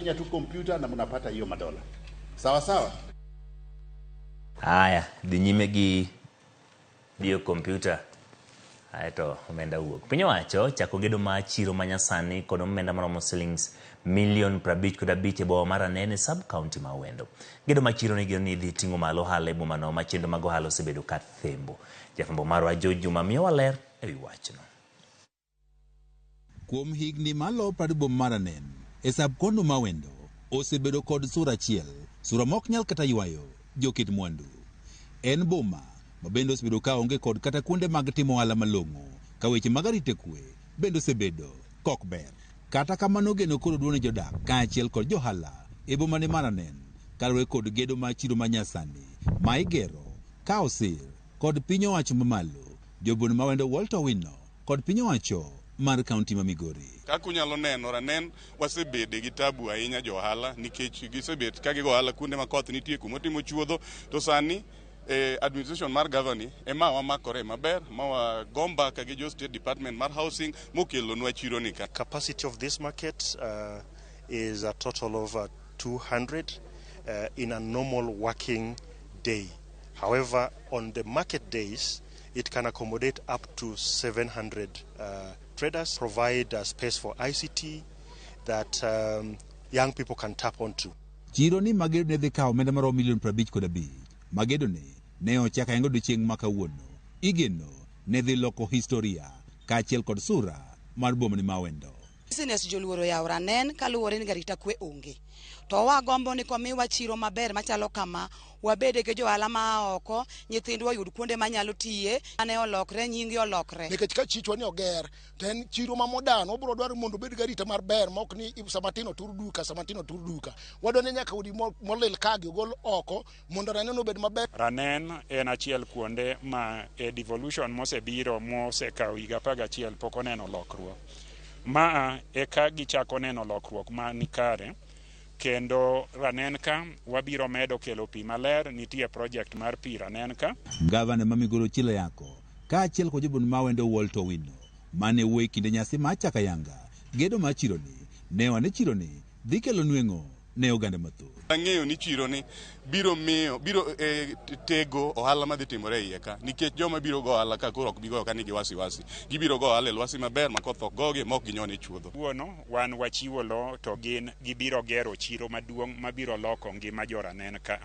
mnafanya tu kompyuta na mnapata hiyo madola sawa sawa haya dhi nyime gi diyo kompyuta ae to omenda wuok piny owacho chako gedo ma chiro ma nyasani kod omenda maromo silings milion prabich kod abich e boma mar anene sub county ma wendo gedo ma chiro nigeno ni idhi ting'o malo ohala e bomano ma chenro mag ohala osebedo ka thembo jafwambo marwa jo juma miyowa ler e wi wachno Kuom higni malo praribo maranen e sub konu ma wendo osebedo kod sura achiel, sura ma ok nyal kata ywayo joket mwandu. En boma ma bende osebedo ka onge kod kata kuonde mag timo ohala malong'o ka weche mag arita kwe bende osebedo kok ber. Kata kamano geno koro duong' ne jodak kaachiel kod johala e bomani maranen kaluwore kod gedo mar chiro ma nyasani ma igero ka osir. kod piny owacho mamalo, jobun mawendo Walter Owino kod piny owacho mar kaunti ma Migori. Kaka unyalo neno ranen wasebede gi tabu ahinya jo ohala nikech gisebet ka gigo ohala kuonde ma koth nitie kuma otimo chuodho to sani eh, administration mar gavani ema wamakore maber ma wago mbaka gi jo state department mar housing mokelonwa chiro ni ka capacity of this market uh, is a total of uh, 200 uh, in a normal working day. However, on the market days, it can accommodate up to 700 uh, traders, provide a space for ICT that um, young people can tap onto. Chiro ni magedo ne dhi kawo omenda maromo milion 50 kod abich. Magedo ni ne ochak ayengo odiechieng' ma kawuono. Igeno ne dhi loko historia kaachiel kod sura mar bomani ma wendo. Business joluoro yaw ranen kaluwore ni garita kwe onge. To wagombo ni komiwa chiro maber machalo kama, wabede gi johala ma oko, nyithindwa oyud kuonde manyalo tiye, ane olokre, nyingi olokre. Nikech ka chichwa ni oger, to en chiro ma modern, wabro dwaro mondo obed gi arita mar ber ma ok ni sama tin otur duka, sama tin otur duka. Wadwa ni nyaka udi molil ka gi ogol oko. mondo ranen obed maber. Ranen en achiel kuonde ma e devolution mosebiro mosekawo higa apar gachiel pok oneno lokruok. Ma e ka gichako neno lokruok ma nikare kendo ranen ka wabiro medo kelo pi maler, nitie project mar pi ranen ka. Gavana ma Migori Ochil Ayako kaachiel kod jobund mawendo Walter Owino mane wuo e kinde nyasi mar Chakayanga gedo mar chironi ne one chironi dhi kelo nweng'o ne oganda mathoth. Ang'eyo ni chiro ni biro miyo biro e, tego ohala madhi timore e iye ka nikech joma biro go ohala ka koro ok bi goyo ka nigi wasi wasi. Gibiro go ohala e lwasi maber ma koth ok gogi ma ok ginyon e chuodho. Wuono wan wachiwo lowo to gin gibiro gero chiro maduong' mabiro loko ngima jo Ranen ka.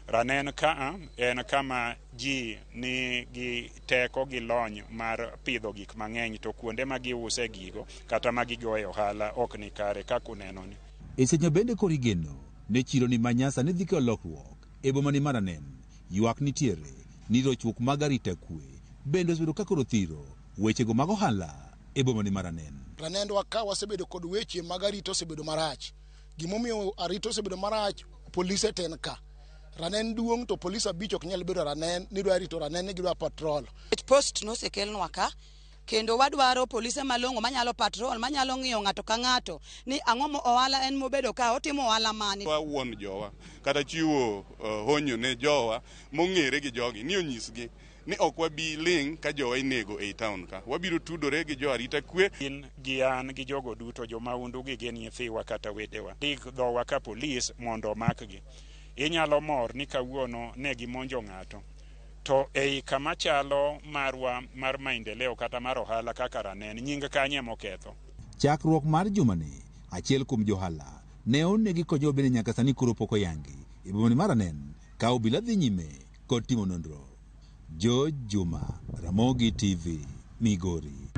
Ranen ka en kama ji ni gi teko gi lony mar pidho gik mang'eny to kuonde ma giuse gigo kata ma gigoye ohala ok ni kare kaka unenoni. Isenyo bende koro igeno ni chironi ma nyasa ni dhi kelo lokruok e boma ni Maranen, ywak nitiere ni rochruok mag arita kwe bende osebedo ka koro thiro weche go mag ohala e boma ni Maranen. Ranendwa ka wasebedo kod weche mag arita osebedo marach. gimomiyo arita osebedo marach polise ten ka ranen duong to polise abich ok nyal bedo ranen ni dwa rito ranen ni gidwa patrol post nosekelnwa ka kendo wadwaro polise malong'o manyalo patrol manyalo ng'iyo ng'ato ka ng'ato ni ang'o mo ohala en mobedo ka otimo ohala mane wawuon jowa kata chiwo uh, honyo ne jowa mong'ere gi jogi ni onyisgi ni ok wabi ling' ka jowa inego ei taon ka. Wabiro tudore gi jo arita kwe. In gi an gi jogo duto, jo maundu gi gin nyithiwa kata wedewa, ndik dhowa ka polis mondo omakgi. Inyalo mor ni kawuono ne gimonjo ng'ato. To ei kama chalo marwa mar Maendeleo kata mar Ohala kaka Ranen, nying kanye moketho? Chakruok mar jumani, achiel kuom johala ne onegi konyowa bende nyaka sani koro pok oyangi e bomani ma Ranen ka obila dhi nyime kod timo nonro. George Juma, Ramogi TV, Migori.